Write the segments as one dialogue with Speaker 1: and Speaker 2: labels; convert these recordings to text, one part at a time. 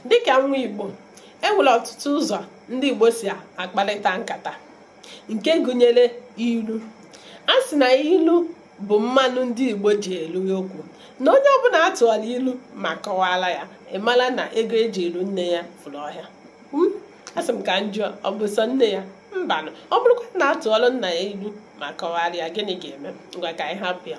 Speaker 1: dịka nwa Igbo e nwere ọtụtụ ụzọ ndị Igbo si akparịta nkata nke gụnyere ilu a sị na ilu bụ mmanụ ndị Igbo ji eli okwu na onye ọbụla atụọla ilu ma kọwara ya ịmara na ego eji alụ nne ya furu ọhịa hmm? asị m ka m jụọ ọ bụ sọ nne ya mbanụ ọ bụrụkwa na atụọla nna ya ilu ma kọwara ya gịnị ga-eme ngwa ka anyị hapụ ya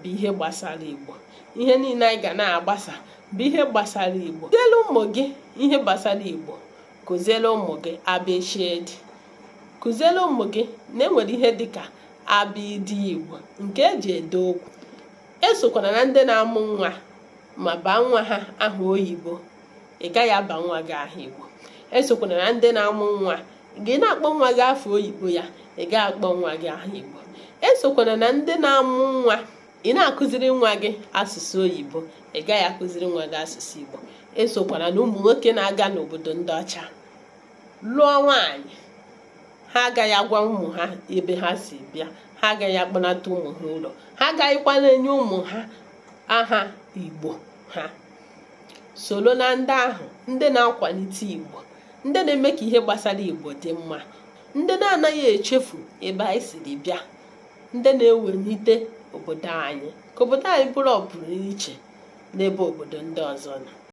Speaker 1: bụ ihe gbasara igbo ihe niile anyị ga na-agbasa bụ ihe gbasara igbo kụziere ụmụ gị ihe gbasara igbo kụziere ụmụ gị abịchịdị kụziere ụmụ gị na enwere ihe dịka abịdị igbo nke eji ede okwu esokwana na ndị na-amụ nwa ma baa nwa ha aha oyibo ị gaghị aba nwa gị aha igbo esokwana na ndị na-amụ nwa ị na-akpọ nwa gị afa oyibo ya ị gaghị akpọ nwa gị aha igbo esokwana na ndị na-amụ nwa ị na-akụziri nwa gị asụsụ oyibo ị gaghị akụziri nwa gị asụsụ igbo esokwana na ụmụ nwoke na-aga n'obodo ndị ọcha lụọ nwaanyị ha agaghị agwa ụmụ ha ebe ha si bịa ha agaghị akpọnata ụmụ ha ụlọ ha agaghịkwa na-enye ụmụ ha aha igbo ha soro na ndị ahụ ndị na-akwalite Igbo ndị na-eme ka ihe gbasara Igbo dị mma ndị na-anaghị echefu ebe anyị siri bịa ndị na-ewelite obodo anyị ka obodo anyị bụrụ ọpụrụ iche n'ebe obodo ndị ọzọ nọ